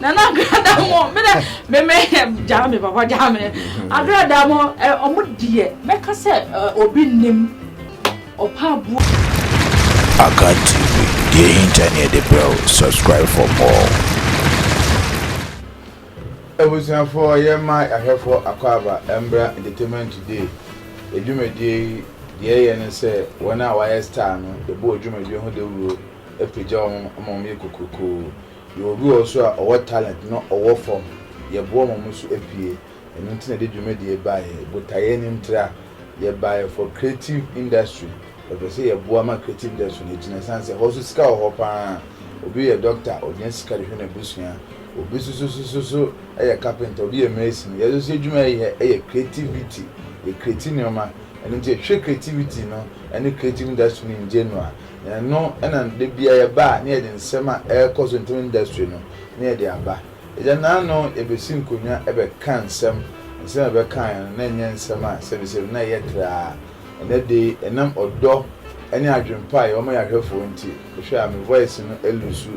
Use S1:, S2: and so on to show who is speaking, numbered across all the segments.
S1: nana agradamu
S2: mi dɛ mɛmɛ gyaa mi papa gyaa mi agradamu ɛ ɔmo deɛ mɛka sɛ ɛ obi nim ɔpa bu.
S3: Akan TV deɛ ehinta ni ɛde brɛ o subscribe for more.
S1: Abusuafoɔ yɛma ahwɛfoɔ akwaaba mbra entertainment today edwumadie yi deɛ ɛyɛ ne sɛ wɔn a wɔayɛ star no yɛbɔ wɔn dwumadie ho dawuro apagya wɔn ma wɔn yɛ kokrokoo Yɛwɔ obi wɔ hɔ so a ɔwɔ talent na ɔwɔ fam, yɛboa ma ɔmo so apue, ɛno nti na yɛde dwumadie yi baeɛ, botaeɛ no ntira, yɛbaeɛ for creative industry, yɛpɛ sɛ yɛboa ma creative industry no agyina ɛsiane sɛ hɔ so sika wɔ hɔ paa, obi yɛ doctor ɔnya sika de hwɛ n'abusua, obi sososososo yɛ carpenter, obi yɛ mason, yɛn nso yɛ dwuma yi yɛ yɛ creativity, yɛ creati nnoɔma, ɛno nti yɛhwɛ creativity no ne creative industry no in general. Ɛno na da biara yɛba a na yɛde nsɛm a ɛrekɔ so ntam industry no na yɛde aba. Agya Nano yɛbɛsi nkonnwa bɛka nsɛm, nsɛm a yɛbɛkaeɛ no na ɛnyɛ nsɛm a sɛbisɛbi na ɛyɛ traa. Ɛnnɛ da yi ɛnam ɔdɔ ne adwene pa a yɛwɔ ma yɛahwɛfoɔ nti, wohwɛ a me voice no alusu.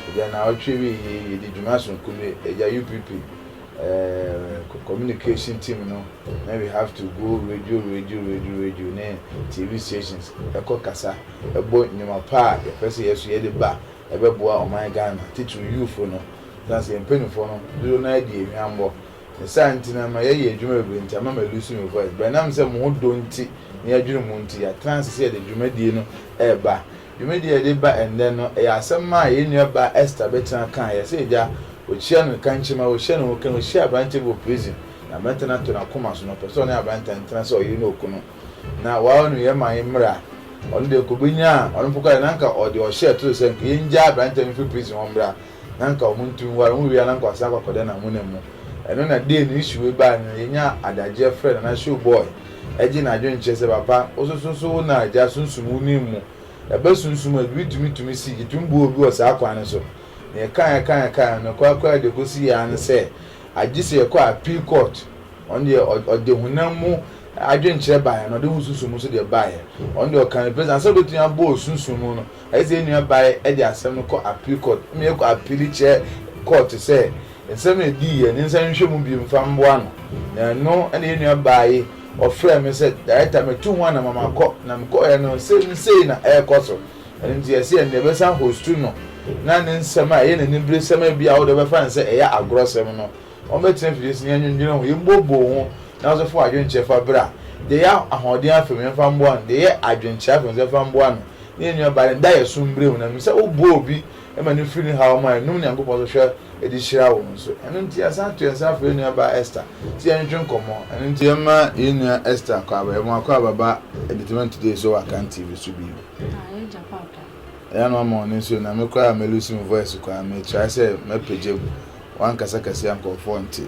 S1: Agya Nnawɔtwe awieɛ yi yɛdi dwuma sononko bi, Agya UPP eh, communication team no na we have to go radio radio radio radio ne TV stations ɛkɔ kasa ɛbɔ nnwuma pa a yɛpɛ sɛ yɛso yɛde ba ɛbɛboa ɔman Ghana titiriw youthfo no san sɛ yɛn mpanyinfoɔ no dodo no adi ehwambɔ ne saa nti no ɛma yɛyɛ adwuma bebree nti ama ma lose me voice but nam sɛ mo ho dɔ nti ne adwene mu nti yɛatena ase sɛ yɛde dwumadie no ɛɛba Dwumadi a yɛde ba ɛnnɛ no yɛ asɛm a yɛn nuabaa Esther bɛtena kae. Yɛse agya, wɔkyia no nkankyema, wɔhyɛ no nwoka, wɔhyia aberanteɛ bi wɔ prison, na aberanteɛ no ato n'akoma so, na ɔpɛ sɛ ɔne aberanteɛ no tena sɛ ɔyere ne okunu. Na wawa no yɛn ma yɛn mmra. Ɔno deɛ anka ɔbɛnya a, ɔno mpo koraa deɛ na anka ɔde ɔhyɛ to so sɛ anka yɛngyaa aberanteɛ no mfiri prison hɔ mmra. na nka ɔmo ntu nware ɔmo wia na nka ɔsan akɔ akɔda n'amuna mu ɛno na day no issue wei bae no yɛnya adagye ɛfrɛ nana show boy ɛgye n'adwen kyerɛ sɛ papa wo so so so wo na agya sunsum wo nim mu ɛba sunsum a biribi tumi tumi si yɛtumi boa obi wɔ saa kwan no so na yɛka yɛka yɛka yɛn no kora kora de kɔsi yɛ ara ne sɛ agye sɛ yɛkɔ appeal court ɔno deɛ ɔde honam mu adwenkyerɛ baeɛ na ɔde ho sunsum nso deɛ baeɛ ɔno deɛ ɔka no pɛ sɛ ansa wobɛtumi abɔ osunsum mu no Ɛsɛ sɛ yɛn nuabaa de asɛm no kɔ Appeal Court ma yɛkɔ apiili kyerɛ kɔɔto sɛ nsɛm no a edii yɛ no nsan nhwɛ mu bio mfa mmoa no. Na ɛno na yɛn nuabaa yi ɔfrɛɛ me sɛ, Director, metu ho anama makɔ, na mekɔeɛ no nsɛm sei na ɛrekɔ so. Ɛno nti yɛse ɛnde yɛbɛsan hostu no na ne nsɛm a ɛyɛ n'aniberesɛm a ebia wo deɛ wobɛfa no sɛ ɛyɛ agorɔsɛm no ɔmmɛtena fie nso na yɛnnwendwene ho, yɛmmuobbuo ho na wo nso fa w'adwenkyerɛ fa bra. Deɛ ɛyɛ ahoɔden afa mu yɛmfa mmoa no, deɛ ɛyɛ adwenkyerɛ afa mu nso yɛmfa mmoa no. ne yɛn nuabaa no daeɛso mbrɛ mu, na menim sɛ woboa obi ma no firi ne haw mu a, ɛnom Nyankopɔn so hwɛ de hyira wo nso. Ɛno nti, yɛasan ato yɛn nsa afrɛ yɛn nuabaa Esther sɛ yɛntwetwe nkɔmmɔ. Ɛno nti, yɛma yɛn nua Esther Akwaaba, yɛma wo Akwaaba ba Entertainment Today so wɔ Akan TV so bio. Ah, yɛgya papa. Ɛyɛ a na wama w'ani nso na me koraa a me lose me voice koraa, mekyerɛ sɛ mɛpagya mu, woankasa kɛse a nkorɔfoɔ nte.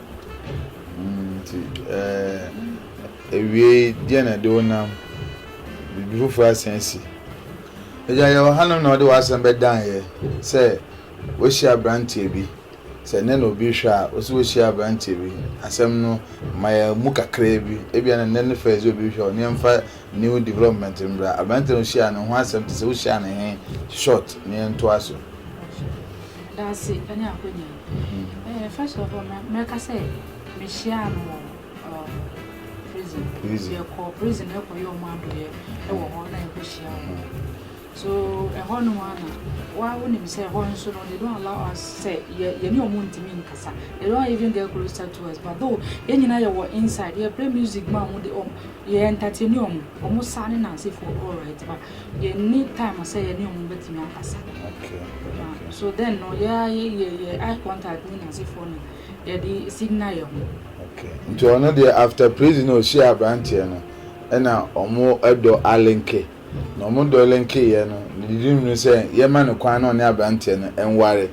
S2: Nti awiei deɛ na ɛde wo nam biribi foforɔ asan asi. Agya yɛwɔ hanom na wode w'asɛm bɛdan yɛ sɛ woahyia aberanteɛ bi sɛ nnɛ na obi rehwɛ a wo sɛ woahyia aberanteɛ bi asɛm no ma yɛ mu kakraa bi ebia na nnɛ ne first obi rehwɛ wo ne yɛmfa new
S1: development mbra aberanteɛ na wohyia no ho asɛm te sɛ wohyia no he short ne yɛntoa so.
S2: Dase ne akwanya yi. First of all, mɛka sɛ mehyiaa no wɔ prison. Yɛkɔ prison ɛkɔyɛ wɔn adɔyɛ wɔ hɔ na yɛkɔhyia wɔn. So ɛhɔ nom a na wa wonim sɛ ɛhɔ nso no they don't allow us sɛ yɛne wɔn ntumi nkasa. They don't even get closer to us. But though yɛn nyinaa yɛwɔ inside, yɛ play music ma wɔn de wɔn yɛ entertain wɔn, wɔn saa ne nansefoɔ all right but yɛnni time sɛ yɛne wɔn bɛtumi akasa. Okay.
S1: So then
S2: no, yɛ yɛ yɛ eye contact ne n'asefoɔ no, yɛde signal yɛn ho. Okay. Nti
S1: ɔno deɛ after prison na ɔhyia aberanteɛ no, ɛna wɔn dɔ alenke. Na wɔn dɔ lenke yɛ no, ne didi mu no sɛ yɛma no kwan na ɔne aberanteɛ no nware.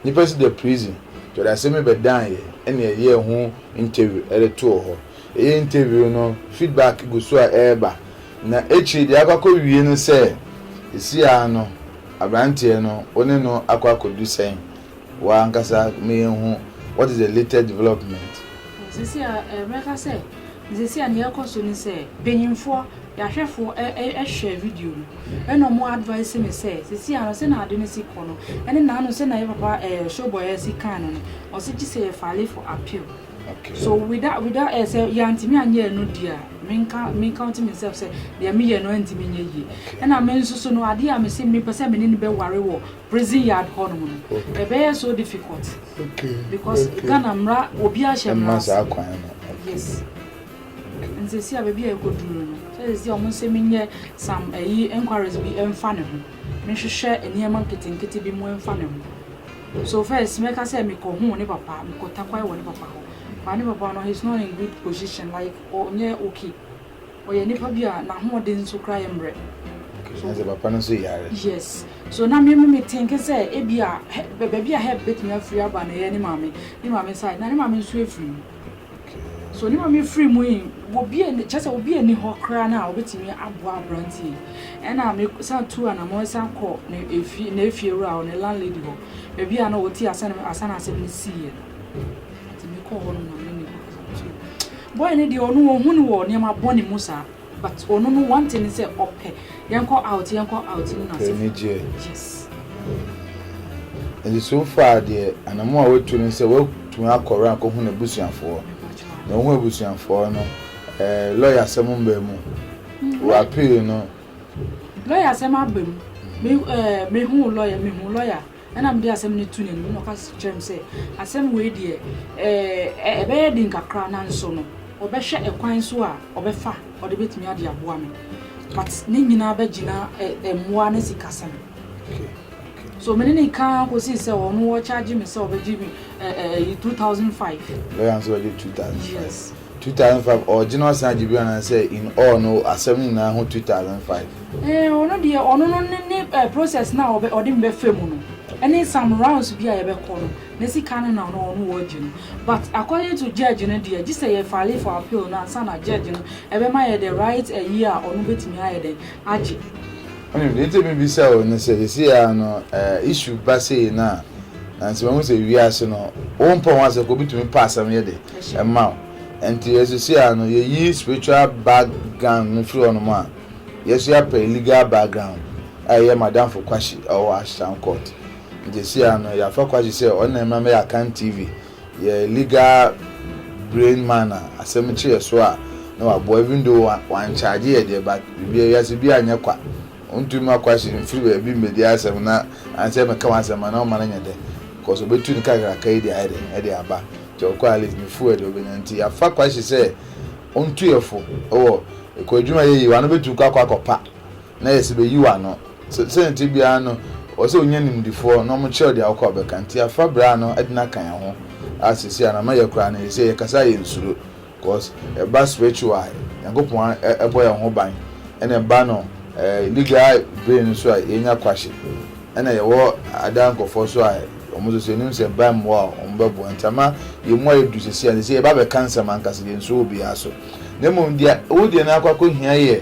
S1: Nipa si da prison, nti ɔde asɛm yi bɛdan yɛ, ɛna yɛyɛɛ ho interview ɛde too hɔ. Yɛ interview no, feedback gu so a ɛreba, na akyiri deɛ akɔakɔ wie no sɛ, ɛsi ara no abranteɛ no wo ne no akɔ akɔdu sɛn? Wo ankasa ma yɛn hu what is the latest development. Sɛsi a
S2: mɛka sɛ sɛsi a deɛ ɛrekɔ so ne sɛ mpanyinfoɔ, yɛahwɛfoɔ ɛhwɛ video no ɛna wɔn advice me sɛ sɛsi a no sɛna ade no si kɔ no ɛne naano sɛna yɛ papa ɛɛ Showboy ɛsi kan no no ɔse gye sɛ yɛ file for appeal. So without without ẹ eh, sẹ yantimi anyẹ ẹ no di a, me nka me counting myself sẹ deɛ me yẹ no antimi nyɛ yie. Ɛna me nso so no adeɛ a me se me pɛ sɛ me ne no bɛware wɔ prison yard hɔ nom no, mm-hmm. ɛbɛyɛ so difficult. Okay.
S1: Because okay. Ghana
S2: mmara obi ahyɛ mmara ase. Ɛma saa kwan no. Yes. Nti si a baabi a ɛkɔ duro no, sɛ si a wɔn sɛ me nyɛ some ɛyi eh, inquiries bi ɛnfa ne ho, me hwehwɛ nneɛma nketenkete bi mu ɛnfa ne ho. So first mɛka sɛ mekɔ huu ne papa, mekɔ takwai wɔ ne papa hɔ but ne papa no he's not in good position like ɔnyɛ okay, ɔyɛ nipa bi a n'ahoɔden nso koraa yɛ mmerɛ. Okay, na sɛ
S1: papa no nso yare. Yes, so na
S2: me me tinke sɛ ebi a baabi a help bɛtumi afiri aba no ɛyɛ ne maame, ne maame side, na ne maame nso afiri mu. So ne maame firi mu yi obi a kyerɛ sɛ obi ani hɔ koraa no a obetumi aboa aberanteɛ yi ɛna me san tu anamɔ san kɔ ne efie na efie wura hɔ ne landlady hɔ baabi a na ɔte asan asan asɛm no sii yɛ nti me kɔ hɔ no na me ne boy no deɛ ɔno ɔhu no wɔ nneɛma bɔne mu saa But ɔno no one thing ne sɛ ɔpɛ yɛnkɔ out yɛnkɔ out ne n'asefo. Ɔpɛ anigyeɛ.
S1: Yes. Nti so far deɛ anamo a watu ne sɛ watumi akɔ around akɔhu n'abusuafoɔ. Na ɔhu abusuafoɔ no ɛɛ lɔya asɛm mbaa mu. Wɔ appeal no. Lɔya
S2: asɛm aba mu. Me ɛɛ mehu lɔya mehu lɔya. Ɛnna mede asɛm no too n'anim, ɛnna ɔka kyerɛɛ me sɛ, Asɛm wei deɛ, ɛɛ, ɛbɛyɛ den kakra, nanso no, ɔbɛhwɛ ɛkwan so a ɔbɛfa a ɔde bɛtumi ade aboa me. But ne nyinaa bɛgyina ɛ, mmoa ne sikasɛm.
S1: So me ne
S2: no ka ara kɔsii sɛ ɔno ɔkyaagye me sɛ ɔbɛgye me ɛ, ɛ, ɛyi, two thousand five. Lɔya nso
S1: bɛgye two thousand five. Yes. Two
S2: thousand five ɔɔ
S1: gyina ɔsan agye bio anaa sɛ in all no asɛm no nyinaa ho two thousand five. Eeh ɔno deɛ
S2: ɔno no ne ne eh, process no a ɔbɛ ɔde me bɛfa mu no ɛne some rounds bi a yɛbɛkɔ no ne sika no na ɔno ɔno ɔɔgye no but according to judge no deɛ gyesɛ yɛ file for appeal no ansa na judge no ɛbɛma yɛ the right ayi a ɔno bɛtumi ayɛ dɛn agye Wonim deɛ nti
S1: a mebisa wo ne sɛ, seesei ara no issue ba sei no a, nanso mahu sɛ wiase no wompɛ wɔn asɛm kɔ, obi tumi pɛ asɛm yɛ de ma wo. Nti seesei ara no yɛyi spiritual background no firi hɔnom a yɛso apɛ legal background a ɛyɛ Madamfo Kwahye a ɔwɔ Ashtown Court. Nti seesei ara no yɛafa Kwahye sɛ ɔno na ɛmma mɛyɛ Akan TV. yɛ legal brain man a asɛm kye yɛ so a na waboa even though wan charge yɛ deɛ but biribiara wiase biara nyɛ kwa ɔntu mma kwahye mfiri baabi mmɛdi asɛm na ansɛ mɛka w'asɛm a na ɔma no nyɛ dɛ cause ɔbɛtu ne kakraka yi de ayɛ dɛ ɛde aba nti ɔkɔ at least ne full ɛde ɔbɛnya nti yɛafa kwahye sɛ ɔntu yɛ fo wɔ ɛkɔ adwuma yɛ yi wano bɛtu kɔ akɔ akɔpa Na yɛ sɛ bɛyi w'ano. Sɛ sɛdeɛ ɛteɛ biara no, ɛwɔ sɛ wonya animdefoɔ na wɔkyerɛ wo deɛ wokɔ a wobɛka. Nti afa berɛ a no de no aka yɛn ho a seesei a na ama yɛ koraa no, seesei yɛkasa a yɛnsuro. Cause ɛba spiritual a, Nyankopɔn bɔ yɛn ho ban. Ɛna ɛba no eh, legal bere no nso a, yɛnya kwahye. Ɛna yɛwɔ ada nkorɔfoɔ nso a, wɔn nso so yɛnim sɛ ɛba mmoa a, wɔn bɛboa. Nti ama yɛn mu ayɛ duru seesei a, seesei yɛba abɛka nsɛm ankasa, yɛnsuro obiara so. Na mmom deɛ wo deɛ no akɔ akɔhia yɛ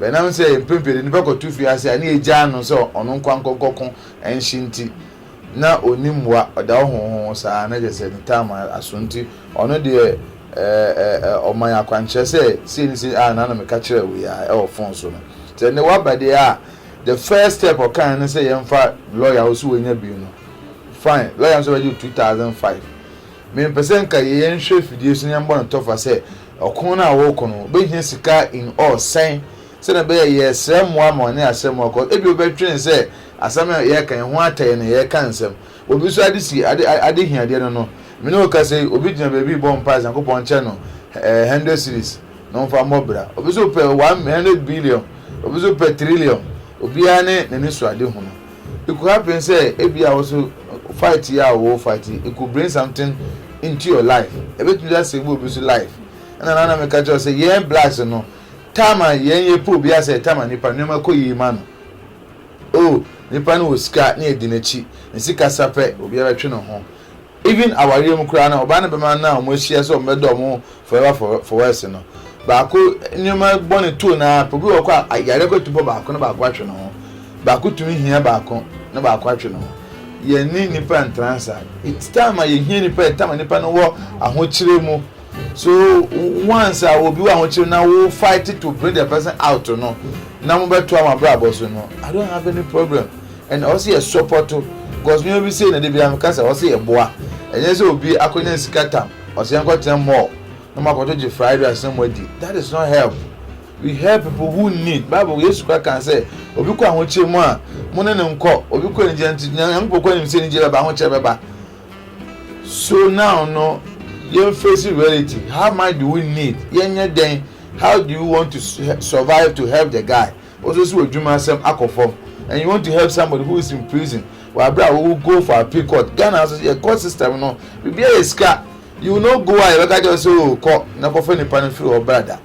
S1: Bɛnam sɛ mpɛn pii de nnipa kɔto fie ase a ne egyaa no sɛ ɔno nko ankɔ nkɔko nhye nti, na onni mmoa, ɔda hɔ hohoho saa, na kyerɛ sɛ ne tam aso nti, ɔno deɛ ɛɛ ɔman akwankyerɛ sɛ sei ne sei a na na meka kyerɛ wo yi ara ɛwɔ fon so no. Sɛ ɛnnɛ woaba deɛ a, the first step ɔkaeɛ ne sɛ yɛmfa lɔya, wo so wanya bi no, fine, lɔya no nso bɛgye wo two thousand five. Mempɛ sɛ nka yɛnhwɛ afidie so na yɛmmɔ no tɔfa sɛ Ɔko no a wɔreko no, wobehia sika in all sɛn? Sɛnea ɛbɛyɛ a yɛresrɛ mmoa ma wɔne asɛm no akɔ. Ebia wobɛdwene sɛ asɛm a yɛreka yi ho atɛe na yɛreka nsɛm. Obi nso ade si ade ade hiadeɛ no no. Me ne wo kasa yi, obi gyina baabi rebɔ mpae sɛ Nyankopɔn nkyɛ no eh hundred cedis na ɔmfa mmɔ bra. Obi nso pɛ one hundred billion. Obi nso pɛ trillion. Obiara ne n'anisoadehunu. It could happen sɛ ebia wo nso fight yi a wo wɔ fight yi, it could bring something into your life. Ebetumi a save obi nso life. Ɛna na na meka kyerɛ wo sɛ yɛn blacks no, time a yɛn yɛ pɛ obi asɛ time a nipa nneɛma kɔ yie ma no. Oh, nipa no wɔ sika na yɛdi n'akyi, ne sika sa pɛ obiara bɛtwe ne ho. Even awareɛ mu koraa no ɔbaa ne bɛma no a ɔmo ahyia sɛ ɔmo bɛda ɔmo ho forever for forever no baako nneɛma bɔne too no ara pɛ obi wɔ kɔ a yareɛ kɔ tumi bɔ baako na baako atwe ne ho baako tumi hia baako na baako atwe ne ho yɛne nipa ntra nsa it's time a yɛhia nipa it's time a nipa no wɔ ahokyerɛ mu So once a obi wɔ ahokyere na wo fight to bring the person out no na mo bɛ to ama brabɔ so no I don't have any problem and ɔsɛ yɛ support because mi obi say na de bi am kasa ɔsɛ yɛ boa ɛnyɛ sɛ obi akɔnya sika tam ɔsɛ yɛn kɔ tena mall na mo akɔto gye fried rice na mo adi that is not help we help people who need bible yesu kora kan sɛ obi kɔ ahokyere mu a mo ne ne nkɔ obi kɔ anigye nti nyankopɔ kɔ anim sɛ anigye bɛba ahokyere bɛba So now no yɛn face reality how much do we need yɛnyɛ dɛn how do you want to survive to help the guy ɔsɛ sɛ ɔdwuma asɛm akɔ fam and you want to help somebody who is in prison wɔ abere a wɔwɔ go for appeal court Ghana nso yɛ court system no biribiara yɛ sika you no go a yɛbɛka kyerɛ sɛ o oh, kɔ na kɔfa nipa no firi hɔ brada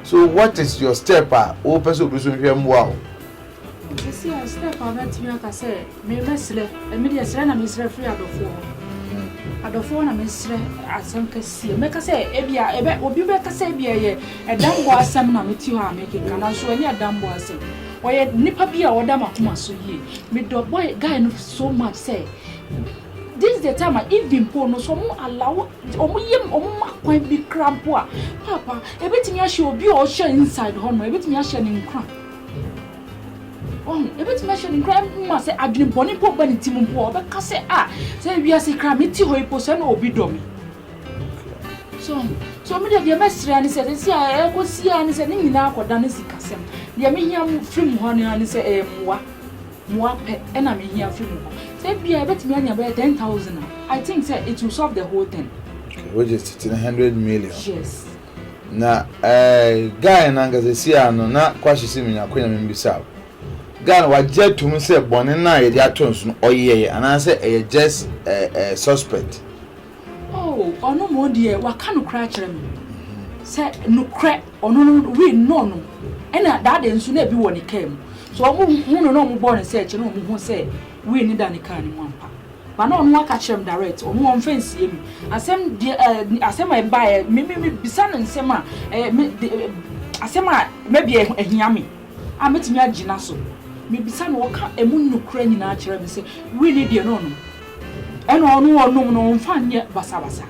S1: so what is your step a wɔpɛ sɛ obi so nhwɛ mmoa o. Sɛsei
S2: a serɛ paa mɛtumi aka sɛ me mɛserɛ ɛme deɛ serɛ na meserɛ firi adɔfoɔ hɔ adɔfoɔ hɔ na meserɛ asɛm kɛseɛ mɛka sɛ ebia ɛbɛ obi bɛka sɛ ebia ɛyɛ ɛdambɔ asɛm na meti hɔ a mekeka nanso ɛnyɛ ɛdambɔ asɛm ɔyɛ nipa bi a ɔda makoma so yie medɔ boy guy no so much sɛ this the time a even po no so ɔmo allow ɔmo yɛ ɔmo ma kwan bi kra mpo a papa ebetumi ahyɛ obi a ɔhyɛ inside hɔ no ebetumi ahyɛ ne nkran. Ɔn, ebetumi ahyɛ no nkuran ma sɛ adwene bɔne mpo ba ne tirim mpo a, ɔbɛka sɛ, a, sɛ wiase kra me ti hɔ yi mpo sɛ na obi dɔ me. So, so me deɛ deɛ mɛsrɛ ara ne sɛ, sɛ si a ɛkɔsi ara ne sɛ ne nyinaa akɔda ne sikasɛm. Deɛ mehia firi mu hɔ no ara ne sɛ ɛyɛ mmoa, mmoa pɛ ɛna mehia firi mu hɔ. Sɛ ebia ebetumi anya bɛyɛ ten thousand a, I think sɛ it will solve the whole thing. Which is titiri
S1: hundred million. Yes.
S2: Na
S1: ɛɛ guy no ankasa esi ano na kwahye si menya konya me mbisa wo. Guy no wagye atum sɛ bɔne no a yɛde ato nso no ɔyɛ yɛ anaasɛ ɛyɛ just ɛɛ ɛɛ suspect.
S2: Oh ɔno mo deɛ waka nokorɛ akyerɛ me sɛ nokorɛ ɔno no we know no ɛna that day nso na ebi wɔ ne car mu so ɔmo hu no na ɔmo bɔɔ ne search na ɔmo hu sɛ we no da ne car no mu ampa. Ba na ɔno aka kyerɛ me direct ɔno ɔnfa nsie me asɛm deɛ eh, asɛm a ɛba eh, me me me bisa no nsɛm a eh, me de, eh, asɛm a maybe eh, ahia me a mɛtumi agyina so me bisa no ɔka ɛmu nnukura nyinaa kyerɛ me sɛ wei ne deɛ na ɔnom ɛna ɔno ɔnom no ɔmfa nyɛ basabasa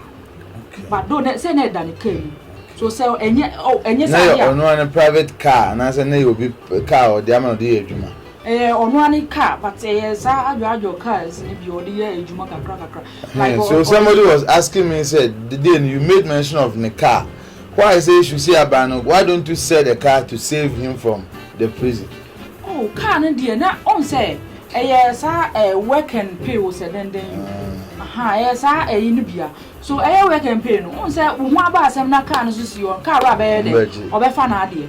S2: okay. ba do ne, sɛ na ɛda ne kaa mu okay. so sɛ ɛnyɛ oh, ɛnyɛ sɛ adeɛ a na yɛ ɔno ano private car
S1: anaasɛ na yɛ obi car ɔde ama no de yɛ adwuma Ɛyɛ ɔno ara ne
S2: car but ɛyɛ saa adwoadwo cars no bi a ɔde yɛ adwuma kakra kakra. Like ɔ. So somebody
S1: was asking me sɛ the day no you made mention of ne car why sɛ esu si aban no why don't you sell the car to save him from the prison. Oh car
S2: no deɛ na ɔn sɛ ɛyɛ saa eh, work and pay wo sɛ dɛndɛn yi aha ɛyɛ saa ɛyi no bia so ɛyɛ work and pay no ɔn sɛ wo ho aba asɛm na car no so si hɔ car wura bɛyɛ dɛ ɔbɛfa n'adeɛ.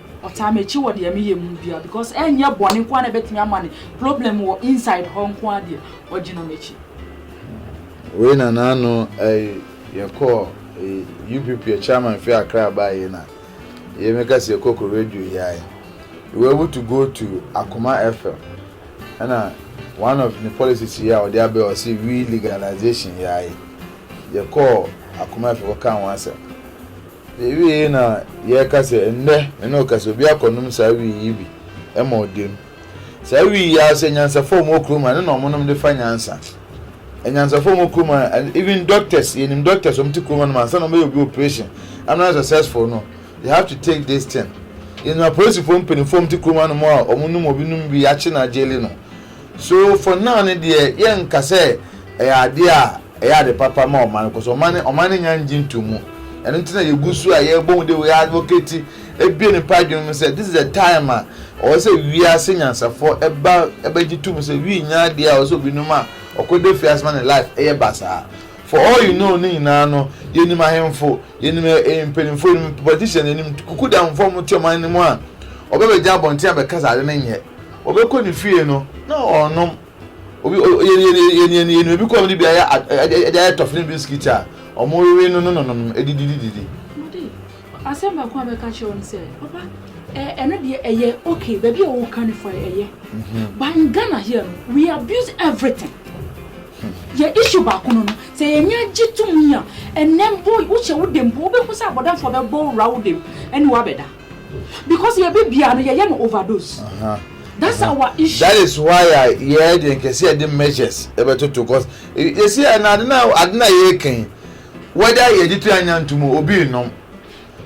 S2: Ɔtaa mekyi wɔ deɛ meyɛ mu biaa because ɛnyɛ bɔne nkoaa na ɛbɛtumi ama no problem wɔ inside hɔ nkoaa deɛ ɔgyina mekyi.
S1: Wei na na ano ɛyi yɛ kɔɔ ɛyi UPP yɛ chairman fi Accra baa yei na yei me ka sɛ yɛ kɔ kɔ radio yi ayi we were able to go to Akoma FM ɛna one of ne policies yi a ɔde abɛ ɔse we legalization yi ayi yɛ kɔɔ Akoma FM kɔ kaa ho asɛm Yɛwiei na yɛreka sɛ, Ɛnnɛ, me ne wo kasa, obi akɔnom saa wii yi bi ma ɔda mu. Saa wii yi ara sɛ anyansafo a wɔwɔ kurom ha, ɛno na wɔnom de fa nyansa. Anyansafo a wɔwɔ kurom ha, even doctors, yɛnim doctors a wɔte kurom hanom a, ansa na wɔbɛyɛ obi operation ama no ayɛ successful no, they have to take this thing. Yɛnim apolisifo mpanyimfo a wɔte kurom hanom a wɔnom obi nom wii akye no agyeli no. So for now no deɛ yɛnka sɛ ɛyɛ adeɛ a ɛyɛ ade papa ma ɔman cause ɔman no ɔman no nnya ngye nto mu ɛno nti na yɛgu so a yɛbɔ hu de yɛ advocate ebue nipa adwene mu sɛ this is the time a ɔwɔ sɛ wiase nyansafoɔ ɛba ɛbɛgye to mu sɛ wii nnya adeɛ a ɔwɔ sɛ obi nom a ɔkɔ da fie ase ma ne life ɛyɛ basaa for all you know no nyinaa no yɛnim ahemfo yɛnim mpanimfoɔ yɛnim politician yɛnim kuku da ahofoɔ a wɔte ɔman no mu a ɔbɛbɛgya abɔnten abɛka sɛ ade no nyɛ Wɔbɛkɔ ne fie no, na ɔnnom. Obi, o, yɛ, yɛ, yɛ, yɛ, yɛ, yɛnua bi kɔɔ mu de bi ayɛ, a, a, de ayɛ tɔfe ne bisikit a wɔwewe no no no nom, de didi, didi, didi. Mode,
S2: asɛm baako a mɛka akyerɛ wo ne sɛ, papa, ɛ, ɛno deɛ ɛyɛ okay, baabi a woka no fine, ɛyɛ. But in Ghana here no, we abuse everything. Yɛ issue baako no no, sɛ yɛn ani gye to mu a, ɛnnɛ mpo, wohyɛ wo dam mpo, wobɛhu sɛ abɔdamfoɔ bɛbɔ wo wura wo dam ne wo abɛda. Because yɛ bi bia no yɛ yɛ no overdose. That's our issue. That is why a
S1: yɛ de nkɛse yɛ de measures ɛbɛ toto cause yɛsi yɛ na ade na ade na yɛ kan whether yɛ de tu anya ntum obi nom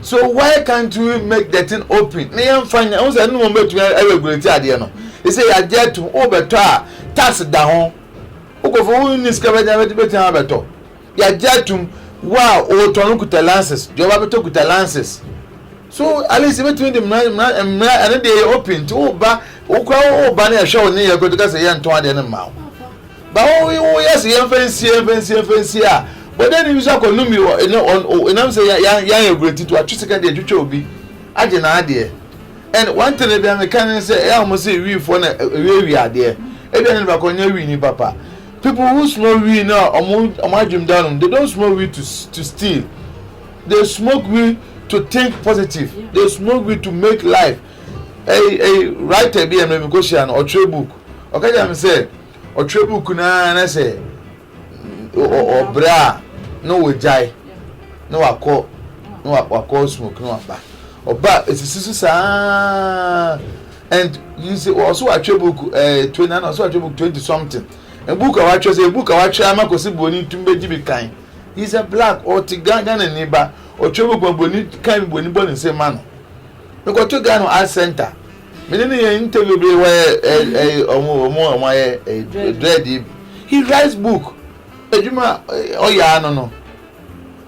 S1: so why can't we make the thing open na yɛn fa nya ɛho sɛ ɛnum bɛ tu yɛ regulate adeɛ no yɛsi yɛ adeɛ atum o bɛ tɔ a tax da ho o kɔfɔ o ni sika bɛ nya bɛ ti bɛ ti a bɛ tɔ. Yɛagye atom, wo a wotɔn no kuta lances, deɛ ɔba bɛtɔ kuta lances. So at least yɛbɛtumi de mmara mmara mmara ɛno deɛ yɛ open nti woba wokura woba ne yɛhwɛ wo ne yɛ koto ka sɛ yɛntɔn adeɛ no mma wo. Ba wo woyɛ sɛ yɛmfa nsie yɛmfa nsie yɛmfa nsie a bɔdani bi nso akɔnom bi wɔ ɛnɛ ɛnam sɛ yɛn yɛn ayɛ gurati to atwe sika deɛ twitwa obi agye n'adeɛ. And one thing ebi a meka ne sɛ ɛyɛ a wɔn sɛ wiifoɔ na ɛwiawia adeɛ ebi a ne nipa kɔ nyɛ wii ni papa People who smoke weed no a ɔmo ɔmo adwene da nom, they don't smoke weed to to steal, they smoke weed to think positive, they smoke weed to make life. Ɛyi ɛyi writer bi a mɛ mi kɔ hyia no ɔtwerɛ book ɔka gya mi sɛ ɔtwerɛ book naa na sɛ ɔbrɛ a na wɔgyae na wakɔ na wakɔ smoke na waba ɔba esisi so saa And you see, also I try book uh, 20, and also I try book 20 something. And book I watch, say book I watch, I'm a kosi boni to be jibi kind. He's a black or to Ghana and neighbor or try book my boni kind boni boni say man. Me go to Ghana art center. Me didn't hear interview be where a a omo omo omo a dread. He writes book. Ejuma oya no no.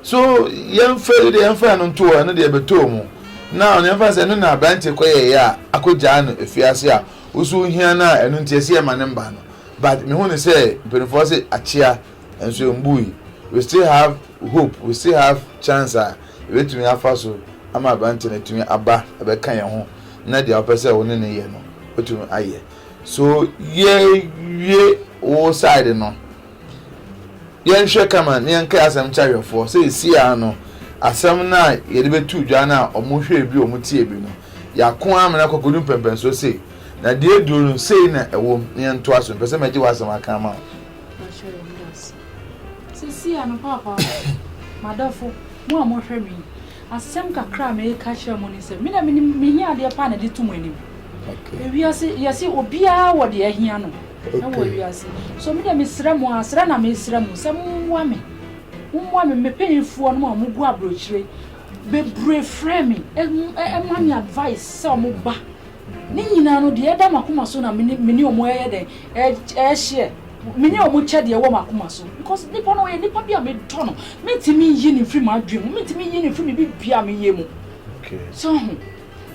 S1: So yɛmfa yi deɛ yɛmfa no nto hɔ, ɛno deɛ ɛbɛtɔɔ mu. Now no yɛmfa sɛ ɛno na aberanteɛ kɔyɛeɛ a akɔgyaa no afiase a woso wohia no a ɛno nti ɛsɛ yɛma no mma no but mehu no sɛ mpanimfoɔ se akyea nso ɛmbui we still have hope we still have chance a yɛbɛtumi afa so ama aberanteɛ no atumi aba ɛbɛka yɛn ho na deɛ wopɛ sɛ wo ne no yɛ no wotumi ayɛ so yɛwie wo side no Yɛnhwɛ kama na yɛnkae asɛm kyerɛ ahwɛfoɔ sɛ seesei ara no asɛm no a yɛde bɛto dwa no a wɔhwɛɛ bi wɔtiee bi no, yɛako amena kɔ akɔdu mpɛmpɛnsoɔ sei, na deɛ aduro no, sei na ɛwom, na yɛntoa so. Mepɛ sɛ mɛgye w'asɛm aka ama wo. Mahyɛ yɛn da
S2: ase. Seesei ara no, Paapa, m'adɔfo, mo a mohwɛ me yi, asɛm kakra a mereka akyerɛ mo ne sɛ, me na menim, mehia adeɛ pa na ɛde to mo anim. Ewiase, yɛse obiara wɔ deɛ ahia no. wɔ wiase yi. So me deɛ mesrɛ mo ara, srɛ na mesrɛ mo sɛ mommoa me, mommoa me, me panyinfoɔ nom a wɔgu aburokyire bebree frɛ me ma me advice sɛ wɔn ba. Ne nyinaa no deɛ ɛda m'akoma so na mene mene wɔn ɛyɛ dɛn ɛhyɛ mene wɔn kyɛ deɛ ɛwɔ m'akoma so because nipa no ɔyɛ nipa bi a medɔ no mentumi nyi ne mfiri m'adwene mu mentumi nyi ne mfiri me bibia meyɛ mu. Okay. So ho.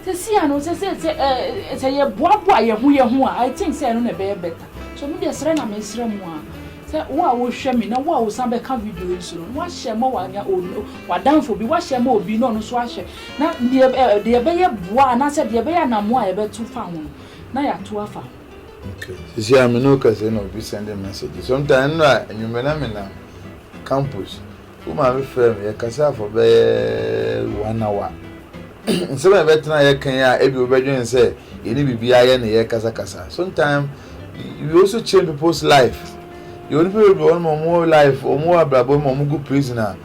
S2: Sesia no sɛ sɛ sɛ eh sɛ yɛ boa boa yɛ ho yɛ ho a I think sɛ ɛno na ɛbɛyɛ better so me deɛ srɛ na me srɛ mo a sɛ wo a wo hwɛ me na wo a wo san bɛ ka video yi so no wa share ma wa nya wa danfo bi wa share ma obi na ɔno nso ahwɛ na deɛ eh deɛ ɛbɛyɛ boa anaa sɛ deɛ ɛbɛyɛ anamo a yɛ bɛ to fa ho no na yɛ ato afa ho. Okay
S1: sesia me ne wo kasa yi na obi send message sometime ɛno na anwummerɛ na me nam campus. Wo maame frɛɛ me, yɛkasaa for bɛyɛ one hour. Nsɛm a yɛbɛtena yɛka yi a ebia wobɛdwen sɛ yɛne biribiara yɛ ne yɛrekasakasa. Sometimes we also change people's life. Yɛwɔ nnipa bebree hɔ nom a wɔn life, wɔn abrabɔ mu a wɔn gu prison a,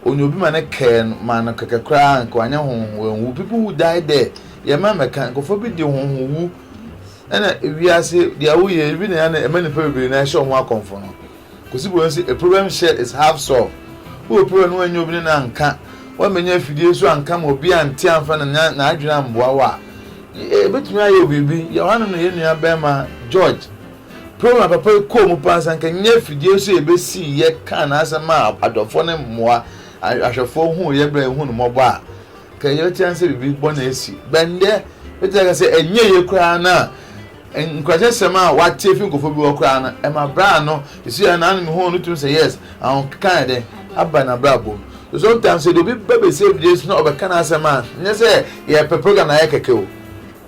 S1: onye obi ma ne kɛɛ no ma no kɛkɛ koraa nka wanyɛ honhom wanwu. People who die there, yɛn mma mmɛka, nkurɔfoɔ bi di honhom wu ɛna wiase deɛ woyɛ ebi na ɛma nnipa bebree na ɛhyɛ wɔn akɔmfo no. Kosi bɔ nsi a problem share is half solve wo wɔ problem no w'annya obi ne no anka w'ammɛnya afidie nso anka ma obi ante amfa ne nan n'adwene amboa wo a yɛbɛtumi ayɛ wo biribi yɛwɔ hanom na yɛn nua bɛɛma George problem a papa yi kɔɔ mu paa sɛ anka nya afidie nso yɛbɛsi yɛ kaa n'asɛm a adɔfoɔ ne mmoa ahwɛfoɔ huu yɛ berɛ a yɛhu no mmɔbɔ a kɛ yɛbɛte ane sɛ biribi bɔ na asi bɛndɛ bɛtumi aka sɛ ɛnyɛ yɛ koraa no a Nkuranhyɛsɛm a wɔatse efi nkorɔfo bi hɔ koraa no, ma bra ano si hɛn ano mu hɔn no tum sɛ yes, ahokeka ayɛ dɛn aba n'abrabɔ mu. So sometimes sɛ dɛ obi ba besie biribi so na ɔbɛka n'asɛm a, nnyɛ sɛ yɛrepɛ program no ayɛ kɛkɛ o,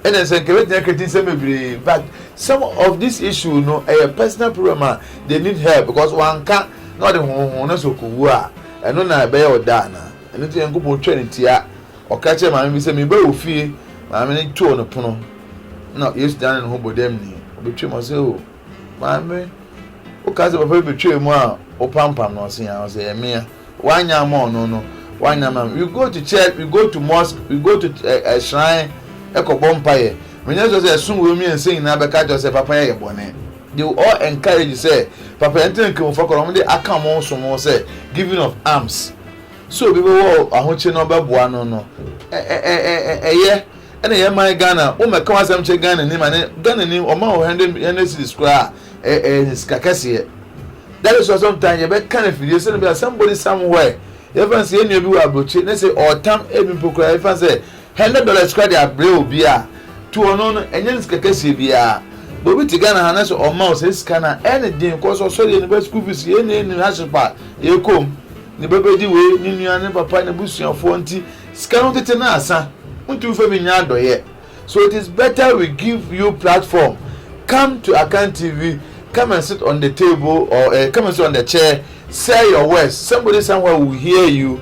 S1: nna nso nka yɛbɛgyina kreti nsɛm bebree but some of this issue no yɛ personal problem a they need help because wɔanka na ɔde honhon no so kɔwu a, ɛno na ɛbɛyɛ ɔda anaa? Ɛno nti Nyankopɔn twa no tia. Ɔka kyerɛɛ maame bi sɛ, Mebaa wo fie, maame no too no pono, ɛnna Yesu danee ne ho bɔ dam ni. Ɔbɛtwaam, ɔse, O Maame, wokaa sɛ papa bi bɛtwaa mu a wopampam no, ɔse, Aa, ɔse, Ɛyɛ me a. Woannyɛ amma ɔno no, woannyɛ amma me. We go to church, we go to mosque, we go to ɛ, ɛ, shrine, ɛkɔbɔ mpaeɛ. Menyɛ sure sɛ ɛsom wei mmiɛnsa nyinaa bɛka akyerɛ wo sɛ papa yɛyɛ bɔne. They will all encourage sɛ, Papa, yɛntena Nkramofo akɔnnɔ, wɔde aka wɔn som ho sɛ, giving of alms. Sɛ obi bɛwɔ ahokye na ɔbɛboa no no, ɛyɛ. Ɛna yɛn man Ghana, womɛka w'asɛm kyerɛ Ghanani ma ne, Ghanani ɔma wo hundred hundred cedis koraa a, ɛyɛ sika kɛseɛ. That is why sometimes yɛbɛka no afidie sɛdeɛ ɛbɛyɛ a somebody somewhere, yɛmfa no sɛ yɛn nua bi wɔ aburokye na sɛ ɔretam ebi mpo koraa, yɛmfa no sɛ. Hundred dollars koraa de abrɛ obi a, to ɔno no, ɛnyɛ ne sika kɛseɛ biara. But obi te Ghana ha na sɛ ɔma wo saa sika no a, ɛyɛ ne den cause ɔsɔre yɛ ne ba school fees, yei na ɛnu hardship a yɛkɔ mu, ne ba bɛdi wei, ne nua, ne papa, n'abusuafoɔ nti sika no tete no asa, wontumi mfa bi nyɛ adɔeɛ. So it is better we give you platform, come to Akan TV, come and sit on the table or uh, come and sit on the chair, say your words, somebody somewhere will hear you.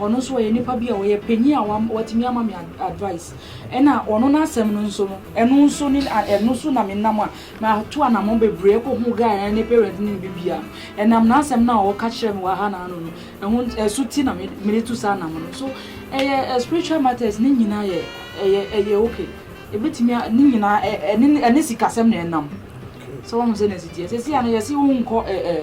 S2: Ɔno nso ɔyɛ nipa bi a ɔyɛ panyin a watumi ama me advice. Ɛna ɔno n'asɛm no nso no, ɛno nso ne ɛno so na me nam a mato anamɔ bebree ɛkɔ ho guy ne parents ne bi bia. Ɛnam n'asɛm no a ɔka kyerɛ me wɔ ha na ano no, ɛho ɛso ti na me mede tu saa nam no. So ɛyɛ spiritual matters ne nyinaa yɛ ɛyɛ ɛyɛ okay. Ebetumi a ne nyinaa ɛne ɛne sikasɛm na ɛnam. So wɔn sɛ na ɛsi teɛ. Sɛsi ano yɛsi wo nkɔ ɛɛ.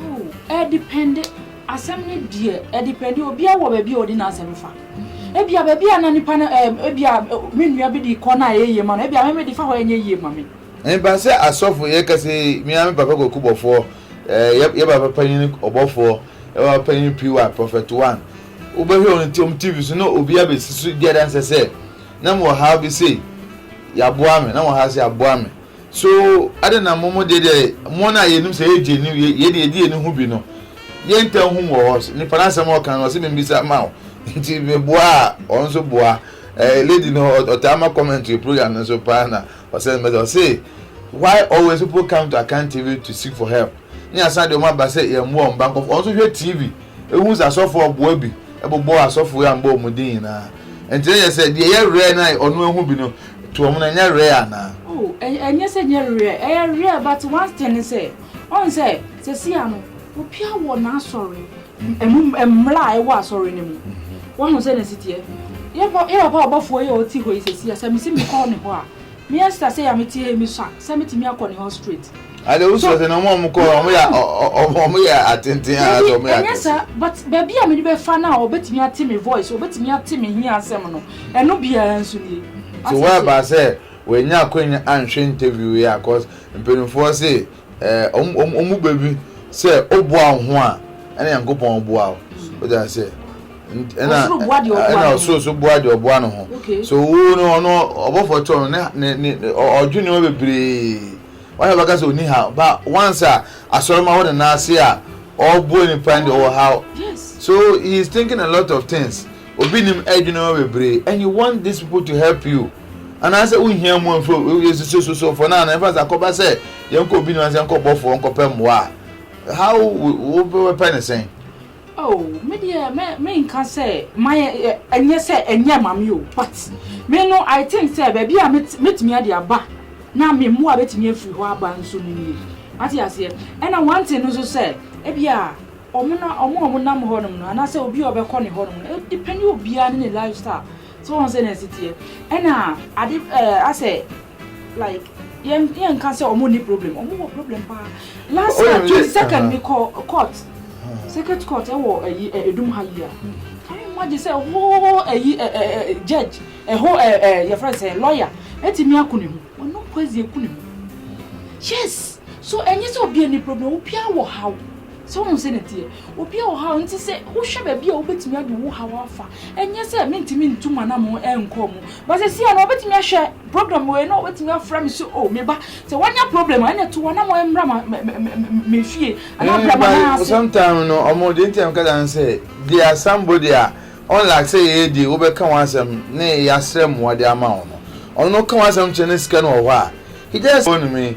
S1: Oh,
S2: ɛdepɛnde. Asɛm no deɛ ɛdepɛnde. Obiara wɔ baabi a ɔde n'asɛm fa. Ebia baabi a na nipa no ɛɛ ebia me nua bi de kɔ na ɛyɛ yie ma no, ebia mɛmɛ de fa hɔ ɛnyɛ yie ma me. Ɛmpa sɛ asɔfo
S1: yɛ kɛse yi, me ara me papa kwaku bɔfoɔ, ɛɛ yɛ yɛ papa panyin ɔbɔfoɔ, yɛ papa panyin PY, Prophet One. Wobɛhwɛ wɔn ti wɔn TV so na obiara bɛsi so di adanseɛ sɛ, na mewɔ haw bi sei, yɛaboa me, na mewɔ haw sei, yɛaboa me. So adɛn na mo mo deɛ deɛ mo na yɛnim sɛ yɛ gyeni yɛ deɛ yɛdi yɛni ho bi no yɛ ntam hum wɔ hɔ nipa no asɛm ɔka no ɔse membisa ma wo nti meboa a ɔno nso boa eh, lady no ɔtaa ma comment yɛ program no nso paa na ɔsɛ mɛsɛ ɔse why always people come to Akan TV to seek for help ne asan deɛ ɔmo aba sɛ yɛmmoa ɔmo ba nkɔfo ɔno nso hwɛ TV Ehu sɛ asɔfo ɔboa bi bobɔɔ asɔfo yi ambɔ wɔn din nyinaa. Enti na ɛyɛ sɛ deɛ ɛyɛ rare no a ɔno ahu bi no to wɔn no ɛnyɛ rare anaa? Oh, ɛnyɛ sɛ
S2: ɛnyɛ rare, ɛyɛ rare but one thing ne sɛ, ɔn sɛ sɛsia no obia wɔ n'asɔre ɛmu mmra a ɛwɔ asɔre no mu. Wahu sɛ na ɛsiteɛ? Yɛ papa ɔbɔfoɔ yi a ɔte hɔ yi sɛsia sɛ mese mekɔ ne hɔ a, Me Esther sei a me te ha yi me sua sɛ me tumi akɔ ne hɔ straight. Ade wo sua sɛ na
S1: ɔmo a ɔmo kɔ hɔ ɔmo yɛ ɔmo yɛ atenten anaa sɛ ɔmo yɛ akɛse. Dabi ɛnyɛ saa but baabi a
S2: me de bɛ fa no a ɔbɛtumi ate me voice ɔbɛtumi ate me hia asɛm no ɛno biara nso nie wate aseɛ. So w'aba
S1: sɛ w'anya akwanya anhwɛ interview yi a cause mpaninfoɔ se. wɔn mu baabi sɛ woboa wo ho a ɛna nyankopɔn boa wo wode aseɛ ɛna ɔsoro so boa deɛ ɔboa ne ho so wo no ɔno ɔbɔfoɔ kyɛ ɔno ne ɔdwe nneɛma bebree wayɛ bɛka sɛ ɔni ha ba once a asɔre ma wode nan ase a ɔboa nipa ne ɔwɔ ha so he
S2: is thinking
S1: a lot of things obi nim ɛdwe nneɛma bebree and you want these people to help you Anaasɛ wohia mmoa mfiri obi hɔ, yɛ sisi sosofoɔ no ano, ɛmfa sɛ akɔba sɛ yɛnkɔ obi no ase nkɔ bɔfoɔ nkɔpɛ mmoa a, how wobɛpɛ no sɛn? Oh,
S2: me deɛ me me nka sɛ mayɛ ɛ ɛnyɛ sɛ ɛnyɛ mame o but me no I think sɛ baabi a mɛt mɛtumi ade aba na me mmoa bɛtumi afiri hɔ aba nso no nie wate aseɛ ɛna one thing no nso sɛ ebi a ɔmo na ɔmo a ɔmo nam hɔ nom no anaasɛ obi a ɔbɛkɔ ne hɔ nom no ɛdepɛne obiara ne ne lifestyle So woahu sɛnea ɛsi teɛ? Ɛna ade ɛɛ asɛ like yɛn yɛn nka sɛ wɔn ni problem wɔn wɔ problem paa last year twenty second mi kɔ court circuit court ɛwɔ ɛyi ɛ edum ha yi a can you imagine sɛ hoo ɛyi ɛ ɛ ɛ judge ɛho ɛ ɛ yɛfrɛ sɛ lawyer ɛtumi ako ne ho wɔn no poison eku ne ho yes so ɛnyɛ sɛ obi ni problem obiara wɔ haw. So wohu sɛnea ɛteɛ? Obi a ɔhaw nti sɛ wohwɛ baabi a wobetumi ade wo haw afa. Ɛnyɛ sɛ mintumi ntu m'anammɔn nkɔɔ mu. But sesia no obetumi ahwɛ program wei na wabetumi afrɛ me sɛ oh, me ba, sɛ woanya problem a, ɛnna tu w'anammɔn mmra ma me fie anaa bra ma nan ase. Sometime no ɔmo
S1: deɛ nti a meka saa ne sɛ they are somebody a unlike sɛ yɛyɛ deɛ wobɛka wɔn asɛm ne yasrɛ mmoa de ama wɔn no, ɔno no woka wɔn asɛm kyerɛ no sika no wɔ hɔ a he just phone me.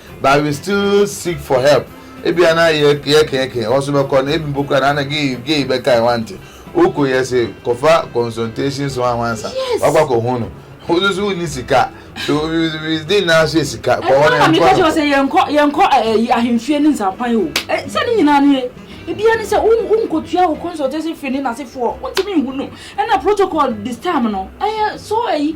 S1: But we still seek for help ebia na yɛ yɛ kɛɛkɛɛ hɔ so bɛkɔ no ebi mpo kura na na gay gay bɛka ɛ wante wokɔ yɛ se kɔfa consultations ho ahwansa yes. wakɔ akɔ ho no wosu so wonni sika so we we dey na so sika kɔ hɔ na nkɔ no sɛ
S2: yɛnkɔ yɛnkɔ ɛyi ahemfie ne nsampan o sɛ ne nyinaa no yɛ ebia ne sɛ wonkɔtua wo consultation fee ne nasefoɔ wontumi nhu no ɛna protocol this time no ɛyɛ so ɛyi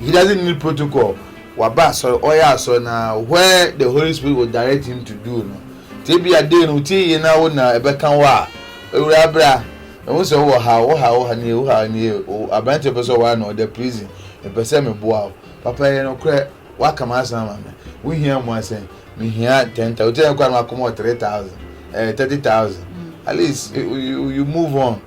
S1: He doesn't need protocol waba asɔre ɔyɛ asɔre na where the holy spirit will direct him to do no nti ebia day no wotie yie na wo na ɛbɛka wo a awuraa bra mehu sɛ wowɔ ha wo ha wo ha nie wo ha nie o aberanteɛ pɛ sɛ ɔware na ɔda prison mepɛ sɛ meboa wo papa yɛ nokorɛ woaka m'asɛm ama me wohia mmoa sɛn mehia ten thousand wotie yɛ koraa na wakɔma wɔ three thousand eh thirty thousand at least you, you, you move on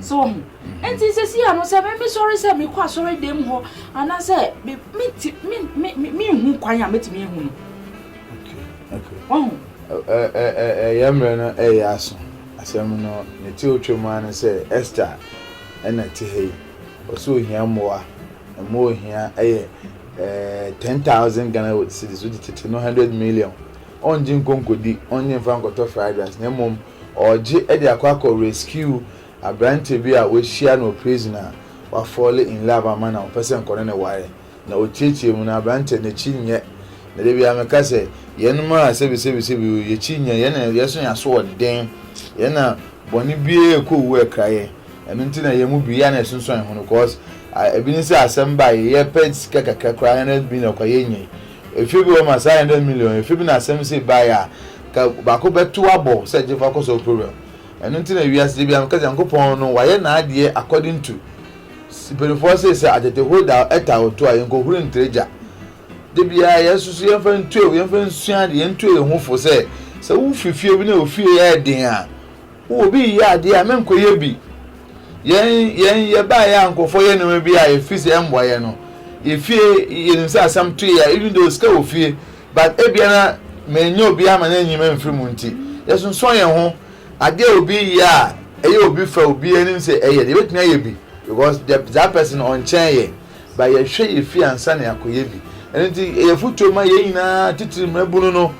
S2: So woahu? Enti seesei ano sɛ mesɔre sɛ mekɔ asɔredan hɔ anaasɛ menhu kwan a mɛtumi ahu no. Wahu? Ɛyɛ
S1: mmerɛ no ɛyɛ aso. Asɛm no ne teo twa mu ara ne sɛ Esther ɛna ɛte ha yi. Ɔsɛ ohia mmoa. Mmoa ohia ɛyɛ ten thousand Ghana cedis, wode tete no hundred million. Ɔngye nkɔ nkɔdi, ɔngye mfa nkɔtɔ fried rice na mmom Ɔregye de akɔ akɔ rescue aberanteɛ bi a wahyia no wɔ prison a wa fall in love ama no a ɔpɛ sɛ nkɔ ne ne ware na ɔtiatia mu no aberanteɛ n'akyi nyɛ na da biara meka sɛ yɛnom a sɛbisɛbisɛbi o yɛkyi nyɛ yɛn na yɛn so yɛn aso ɔden yɛn na bɔne biara ɛkɔ owu ɛkra yɛn ɛno nti na yɛn mu bi yɛ na ɛsonsoan ho no cause ebi ne sɛ asɛm ba yɛpɛ sika kakra koraa yɛn na bi na ɔkwa yɛnyɛ Efi bi wɔ hɔ ma saa hundred million efi bi na asɛm sei baeɛ a, ka baako bɛto abɔ sɛ gye fa kɔ sɔɔ program. Ɛno nti na wiase gye biara meka sɛ Nyankopɔn no wayɛ n'adeɛ according to mpanifoɔ sei sɛ atete hɔ da ɛtaa ɔto a yɛnkɔhuri ntere gya. Da biara yɛn nso so yɛmfa ntuo yɛmfa nsua adeɛ yɛntuo yɛn ho fo sɛ sɛ wofi fie bi na ofie yɛ den a Wo obi reyɛ adeɛ a menkɔ yɛ bi yɛn yɛn yɛbaeɛ a nkurɔfoɔ yɛ nneɛma bi a yɛfiri sɛ ɛmmoa yɛn no yɛfie yɛnim sɛ asɛm to yɛ a even though sika wɔ fie but ebia na menyɛ obi ama no anyi me mfiri mu nti yɛsonsoɔ yɛn ho adeɛ a obi yɛ a ɛyɛ obi fɛ obi anim sɛ ɛyɛ deɛ yɛbɛtumi ayɛ bi because that person ɔnkyɛn yɛn But yɛhwɛ yɛ fie ansa na yɛakɔyɛ bi. Ɛno nti, ɛyɛ afotuo ma yɛn nyinaa, titiri mmabunu no,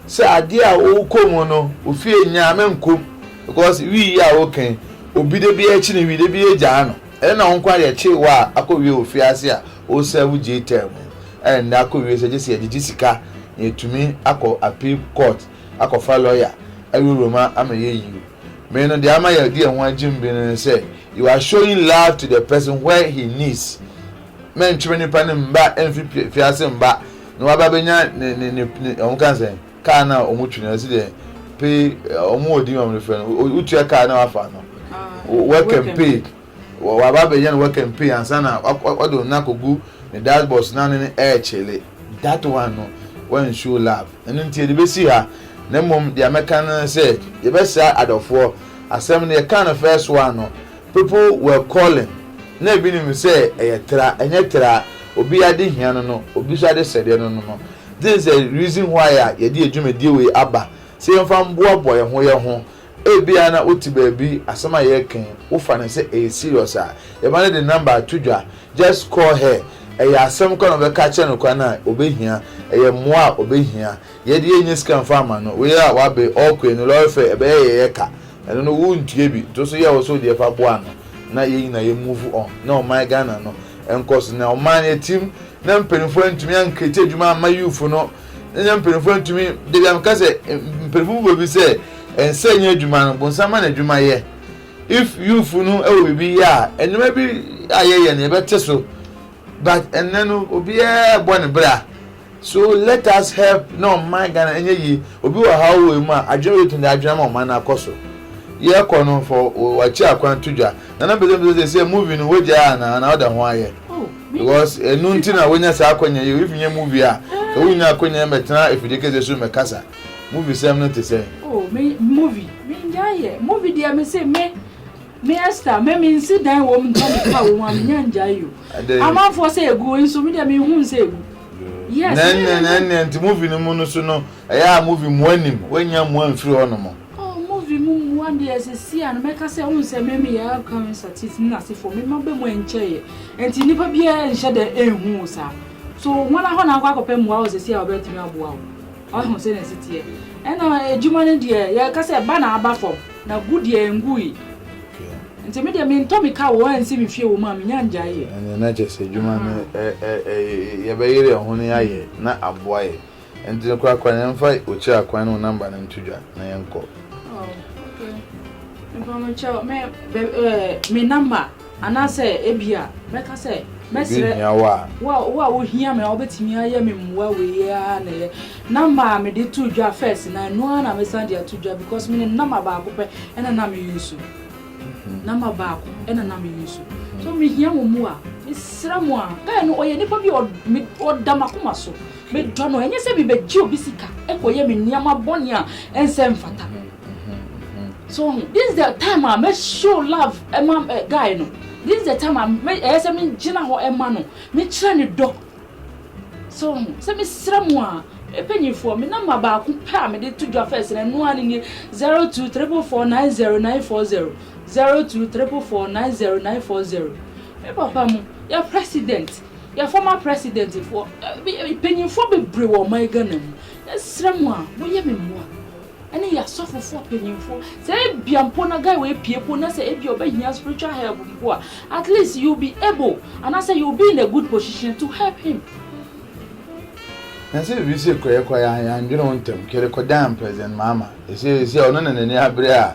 S1: sɛ adeɛ a wokɔ mu no, wo fie Nyame nkɔ mu. Because wii yi a woka yi, obi da biara kyi no wii, da biara gyaa no. Ɛnyɛ na wo nko ara deɛ ɛkyee wo a akɔ wie wɔ fie ase a wo serve J-term mu. Ɛna nnɛ akɔ wie sɛ gye sɛ yɛgyegye sika na yɛtumi akɔ appeal court. akɔfa lɔya awurawura mu ama yɛayi o. Me no, deɛ ama yɛde yɛn ho agyem bi no ne sɛ, you are showing love to the person where he needs. Mɛntwe me nipa no mma mfi afiase mma na waba abɛnya ne ne ne ne wɔn ka sɛn kaa no a wɔtwi no ɛsi deɛ pay wɔn wɔ din wɔn de frɛ no wotua kaa no a wafa no work and paid. Waba abɛyɛ no w'akanpei ansa na w'ɔde wo nan akɔgu ne dash board so na ne no ɛɛkyele. That one no w'ansuo love. Ɛno nti yɛde bɛsi ha. Na mmom deɛ mɛka no ne sɛ yɛbɛsra adɔfoɔ. Asɛm no yɛkaa no first one no people were calling na ebi nim sɛ ɛyɛ tra ɛnyɛ tra. Obi ade hia no no obi nso ade sɛdeɛ no no no. This is the reason why a yɛde yɛn dwumadie wei aba sɛ yɛmfa mboaboa yɛn ho yɛn ho Ebia na wote baabi, asɛm a yɛreka yi, wofa no sɛ ɛyɛ serious a, yɛma no de number ato dwa, just call her, ɛyɛ asɛm kɔ na ɔbɛka akyerɛ no kwan a ɔbɛhia, ɛyɛ mmoa a ɔbɛhia. Yɛ deɛ yɛnnya sika mfa mma no, woyɛ a woabe, ɔɔkɔ ani, lɔre fare, ɛbɛyɛ yɛ yɛ ka, ɛno no wontua bi, to so yɛ wo so wo deɛ fa boa no na yɛn nyinaa yɛ move on na ɔman Ghana no nkɔ so. Na ɔman no atim na mpaninfoɔ antumi ankreate adwuma amma youthfo no. Ɛnyɛ mpanyinfoɔ ntumi dabi a meka sɛ mpanyinfoɔ mu baabi sɛ ɛnsɛ nyɛ adwuma no bonsam ma na adwuma yɛ if youth no ɛwɔ biribi yɛ a nneɛma bi a yɛyɛ no yɛbɛte so but ɛnɛ no obiara bɔ ne bra so let us help na ɔman Ghana ɛnyɛ yie obi wɔ ha wɔ mu a adwene bɛ tumi de adwene ma ɔman no akɔ so yɛkɔ no fɔ wakyi akwan to dwa nana bɛsɛ bɛsɛ sɛ movie no wagyaa anaa na ɔda ho ayɛ. Because ɛno nti na wonya saa akwanya yi o, if nyɛ movie a, nka wonnya akwanya yi mɛtena afidie kɛseɛ so mɛkasa. Movie sɛm no te sɛn? Oh me movie
S2: mengyae yɛ, movie deɛ mese me me Esther me mensi dan wom nka me ka wom a menya ngyae yo. Adɛn? Amanfoɔ sɛ ɛgu nso me deɛ menhu nsɛ ɛgu. Yes. Nɛɛnɛ nɛɛnɛ nti
S1: movie no mu no so no ɛyɛ a movie mmoa nnim, woannya mmoa mfiri hɔ nom. Oh movie mu mmoa
S2: deɛ sɛsi a no mɛka sɛ wohu sɛ me meyɛ current satis ne nasefoɔ me ma bɛ mu ɛnkyɛeɛ ɛnti nnipa biara nhyɛ dɛ ɛnhu wo saa so hɔn ahɔ na akɔ akɔpɛ mmoa wɔ sɛsi a wɔbɛtumi aboa wo wahu sɛ na ɛsi teɛ ɛna adwuma no deɛ yɛka sɛ ɛba na aba fam na gu deɛ ɛngui nti me deɛ mentɔ me ka wɔ ɛnsi me fie wɔ mu a menya ngyae yɛ ɛnɛ na kyɛ sɛ adwuma
S1: no yɛbɛyere yɛn ho no yɛayɛ na aboa yɛ Ɛnti no kora kora yɛnfa okyire akwan no wo number no nto dwa na yɛnkɔ. Oh, okay.
S2: Mpa mo kyɛw me be, eh, me number anaasɛ ebia mɛka sɛ mɛsrɛ wo a wo a wohia me a wobɛtumi ayɛ me mmoa wei a na ɛyɛ number a mede to dwa first na ɛno ara na mesan de ato dwa because menim number baako pɛ ɛna na me use mhm. number baako ɛna na me use so mehia mo mmoa mesrɛ mo a guy no ɔyɛ nipa bi ɔda makoma so Medɔ no, ɛnyɛ sɛ mebɛgye obi sika kɔyɛ me nneɛma bɔne a ɛnsɛ mfata. So ho, this is the time a mɛ show love ɛma eh, guy no. This is the time a mɛ ɛyɛ sɛ me gyina hɔ ɛma no, me kyerɛ ne dɔ. So ho, sɛ me srɛ mu a, mpanyinfoɔ, me namba baako pɛ a mede to dwa fɛs na ɛno a ne nie zero two triple four nine zero nine four zero zero two triple four nine zero nine four zero. Me papa mu, yɛ president. Yɛ former president foɔ mpanyinfoɔ bebree wɔ ɔman Ghana mu yɛsrɛ mo a mo yɛ me mmoa ɛne yɛ asɔfofoɔ mpanyinfoɔ sɛ ebia mpo na guy wei pie mpo na sɛ ebia ɔbɛ hia spiritual help mpo a at least you be able anaasɛ you be in a good position to help him.
S1: Na sɛ biribi sei kɔ yɛ kɔ yɛ a yɛn dwene wo ntɛm kɛlɛ kɔ dan president mahama ɛsɛ ɛsɛ ɔno na n'ani abere a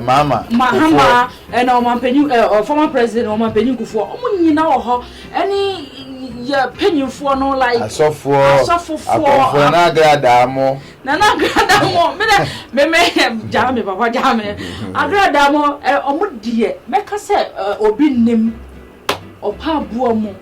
S2: Mahama
S1: ɛna
S2: ɔmanpanyin ɛ ɔ former president na ɔmanpanyin kufoɔ ɔmo nyina wɔ hɔ ɛne yɛ panyinfoɔ no like asɔfoɔ asɔfofoɔ
S1: akɔnfoɔ na agradaa mo na na agradaa mo me dɛ me me gyaa me papa gyaa me
S2: agradaa mo ɛ ɔmo deɛ mɛka sɛ ɛ obi nim ɔpa aboa mu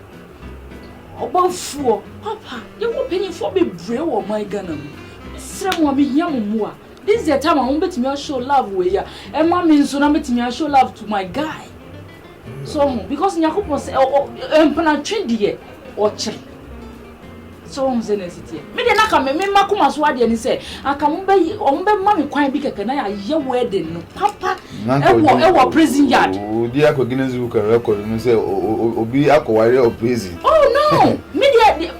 S2: ɔbɔnfoɔ papa yɛwɔ panyinfoɔ bebree wɔ ɔman Ghana mu mesrɛ mo a mehia mo mmoa. This is the time a wobɛtumi a show love wei a ɛma me nso na mɛtumi a show love to my guy so ho because nyakopɔn sɛ mpenatwe deɛ ɔkyɛ so ho sɛ na ɛsiteɛ me deɛ na ka me mema koma so adeɛ ne sɛ anka wɔbɛma me kwan bi kɛkɛ na yɛayɛ wedding no papa ɛwɔ ɛwɔ prison yard wodi akɔ Guinness
S1: Book of Record mu sɛ obi akɔware wɔ prison oh no
S2: me deɛ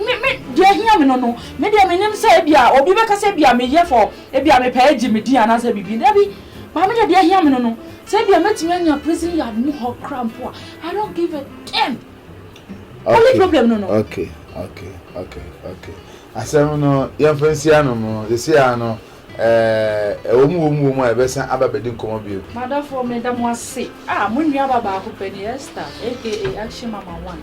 S2: deɛ ahia me no no Me deɛ menim sɛ ebia obi bɛka sɛ ebia meyɛ for ebia mepɛ agye me din anaasɛ biribi dabi but me deɛ deɛ ahia me no no sɛ ebia mɛtumi anya prison yard mu hɔ kra mpo a I don't give a damn only problem no no. Okay okay
S1: okay okay asɛm no yɛmfa nsi anom no sɛsi a no ɛɛ ɛwɔ mu wɔ mu wɔ mu a yɛbɛsan aba bɛdi nkɔmmɔ bio. M'adɔfoɔ meda mo
S2: ase ah mo nua ba baako pɛ ni Esther aka action mama one.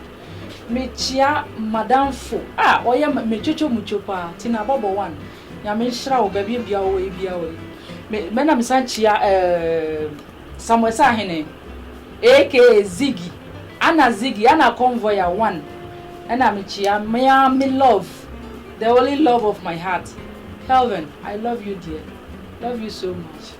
S2: Mekyia madamfo a ɔyɛ me twotwo mutwo paa, Tina bɔbɔ one. Nyame nhyira wo baabi bia wɔ yi bia wɔ yi. Me me na mesan kyia ɛɛm Samuel Sahene aka Ziggy, Anna Ziggy, Anna Convoyer one. Ɛna mekyia me ara me love, the only love of my heart, Kelvin, I love you dear, love you so much.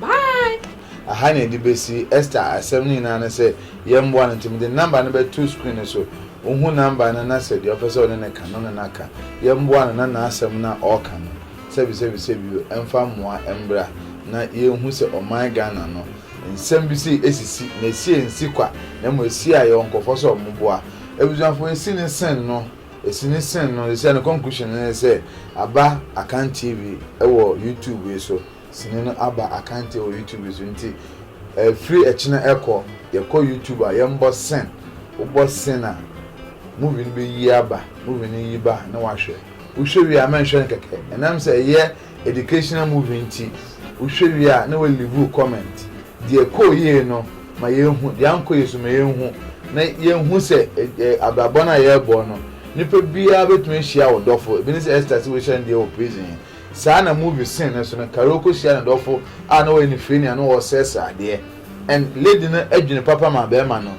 S2: Bye! Aha na yɛde
S1: besi Esther asɛm no nyinaa no sɛ yɛmmoa no nti mede ne number no bɛto screen no so. Wohu number no na sɛ deɛ ɔpɛ sɛ ɔne no ka no ne no aka. Yɛmmoa no na n'asɛm no a ɔreka no sɛbisɛbisɛbio ɛmfa mmoa mmra na yɛnhu sɛ ɔman Ghana no nsɛm bi sei ɛsisi na ɛsi ɛnsi kwa na mmom ɛsi a yɛwɔ nkurɔfoɔ sɛ wɔn boa abusuafoɔ ɛsi ne sen no ɛsi ne sen no ɛsi a ne conclusion no ne sɛ aba Akan TV ɛwɔ YouTube yi so. sini no aba akanteɛ wɔ YouTube so nti ɛfiri ɛkyena ɛkɔ yɛkɔ YouTube a yɛnbɔ sen wobɔ sen a movie no bɛyi aba movie no yi ba ne wahwɛ wohwɛ wie a mɛnhwɛ no kɛkɛ ɛnam sɛ ɛyɛ educational movie nti wohwɛ wie a ne wɔ live comment deɛ kɔɔ yie no ma yɛhu deɛ ankɔ yie so ma yɛhu na yɛhu sɛ abrabɔ no a yɛrebɔ no nipa biara bɛtumi ahyia wo dɔfo ebi ne sɛ ɛstasɛ wɔhyɛ no deɛ wɔ prison Saa na movie scene no so no Carol kɔhyia ne dɔfo a na ɔyɛ ne firinii a na ɔresrɛsrɛ adeɛ and lady no adwene papa ma barima no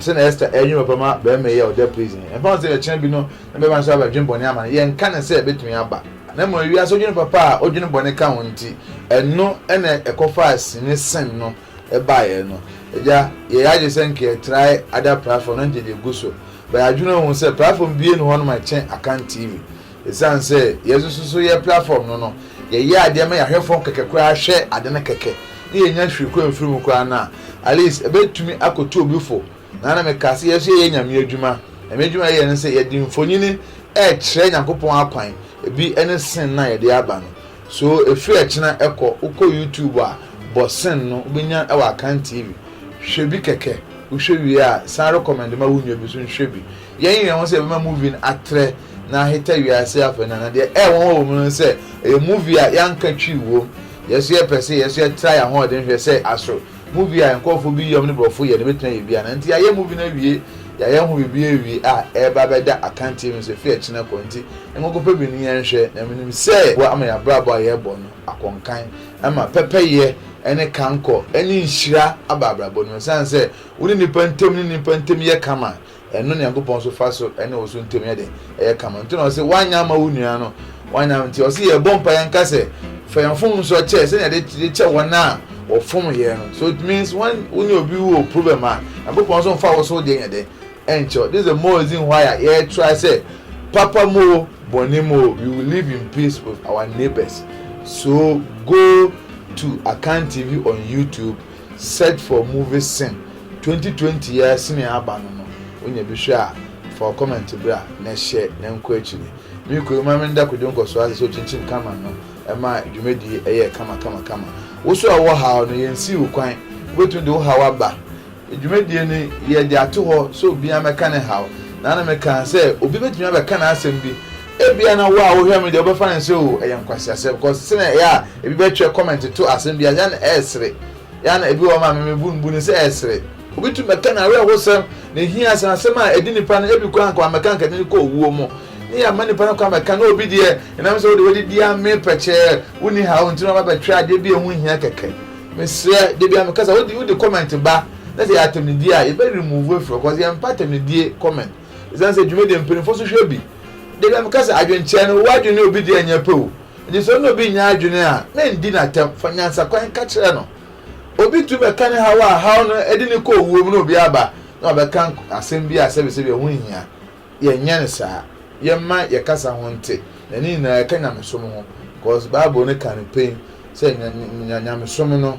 S1: sɛnea Esther ɛredwene papa ma barima yi a ɔda prison yi. Ɛmfa ho sɛ ebia kyena bi no na barima no so aba adwene bɔne ama no, yɛnka no sɛ ɛbɛtumi aba. Na mmom wiase odwene papa a odwene bɔne ka ho nti, ɛno na ɛkɔfaa sini scene no baeɛ no. Agya, yɛyɛ adwene sɛ nka yɛtrae ada platform na nka yɛde agu so but yɛadwene ho hu sɛ platform biara nni hɔ nom a ɛkyɛn Akan TV. Esiane sɛ yɛasusu so yɛ platform no no, yɛyɛ adeɛ ma yɛahwɛ fam kɛkɛ koraa hwɛ ade no kɛkɛ na yɛnya hwee kɔ mfiri mu koraa no a, at least ɛbɛtumi akɔtu obi fo. Na na mekaa sɛ yɛn nso yɛyɛ Nyame adwuma, Nyame adwuma a yɛyɛ ne sɛ yɛde mfonini rekyerɛ Nyankopɔn akwan, ebi ne sin no a yɛde aba no. So ɛfiri ɛkyena ɛkɔ, wokɔ YouTube a, bɔ sin no, wobɛnya wɔ Akan TV. Hwɛ bi kɛkɛ, wohwɛ wie a san recommend ma wo nua bi nso nhwɛ bi. Yɛyere yɛn ho sɛ yɛbɛma movie no atrɛ na aheta wiase afɛ no anaa? Deɛ ɛyɛ nwanwa wɔ mu no sɛ ɛyɛ movie a yɛanka twi wom. Yɛn nso yɛpɛ sɛ yɛn nso yɛtra yɛn ahoɔden hwɛ sɛ aso movie a nkurɔfoɔ bi yam ne borɔfo yɛ no bɛtumi ayɛ bi anaa. Nti yɛayɛ movie no awie, yɛayɛ ho biribiara awie a ɛreba abɛda akanteɛ mu sɛ fie kyena kɔ. Nti nkokɔpɛ bi no yɛnhwɛ na menim sɛ ɛboa ama yɛn abrabɔ a yɛrebɔ no akɔ nkan. Ɛma pɛpɛyɛ ne kankɔ ne nhyira aba abrabɔ no mu. Ɛsiane sɛ wo ne nnipa ntam ne nnipa ntam yɛ kama Ɛno na Nyankopɔn so fa so ne wo so ntam yɛ den, ɛyɛ kama. Nti na ɔse woanyɛ ama wo nua no, woanyɛ ama, nti ɔse yɛbɔ mpaeɛ nka sɛ, fa yɛn mfomsoɔ kyɛ sɛnea yɛde kyɛ wɔn a wɔfom yɛn no. So it means when wo ne obi wɔ problem a, Nyankopɔn so mfa wo so deɛ nyɛ den nkyɛ wo. This is the more reason why a yɛ try sɛ papa mu o, bɔne mu o, we will live in peace with our neighbours. So go to Akan TV on YouTube Search for movies sen twenty twenty yi ara sini a aba no no wonya bi hwɛ a fa wo comment bra na hyɛ na nkɔ akyiri me kuro yi ma me nda kwadwo nkɔsoɔ ase sɛ okyinkyim camera no ɛma dwumadie yi ɛyɛ kama kama kama wo so a wowɔ haw no yɛn nsii wo kwan wobɛtumi de wo haw aba dwumadie no yɛ de ato hɔ sɛ obiara mɛka ne haw na na me kaa sɛ obi bɛtumi abɛka n'asɛm bi Ebia na wo a wohwɛ me deɛ wobɛfa no sɛ oh ɛyɛ nkwaseasɛm because sɛnea ɛyɛ a ebi bɛtwerɛ comment to asɛm bi a ɛyɛ a na ɛresere. Ɛyɛ a na ebi wɔ hɔ ma me mebu mbu no sɛ ɛresere. Obi tumi bɛka n'awerɛhosɛm, ne hia, asɛm asɛm a ɛde nnipa no ebi koraa anka wammɛka anka ɛde no kɔ owuo mu ne yɛamma nnipa no kwan mmɛka na obi deɛ ɛnam sɛ wode w'adidi amee pɛkyɛɛ wonni haw nti na waba abɛtwerɛ adeɛ bi a ɛho nhia kɛkɛ. Mesrɛ da biara meka sɛ wode wode comment ba na sɛ ɛyɛ atɛmnidie a yɛbɛ remove afiri hɔ because yɛmpɛ atɛmnidie comment. Esiane sɛ dwumadi a mpanyimfo nso hwɛ bi de dɛm ka sɛ adwenkyerɛ no, w'adwene ne obi deɛ nyɛ pɛ o. Enti sɛ wo ne obi nyɛ adwene a, mendi no atɛm. Fa nyansakwan ka kyerɛ no. Obi tumi bɛka ne haw a haw no de no kɔ owuo mu na obi aba na wabɛka asɛm bi a sɛbisɛbi ɛho nhia. Yɛnyɛ no saa. Yɛmma yɛn kasa ho nte, na ne nyinaa ɛka nyamesom ho. Because Bible no ka no pɛn sɛ nyamesom no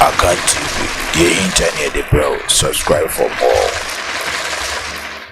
S3: Akan TV, deɛ ɛhinta ne yɛde brɛ wo, subscribe for more.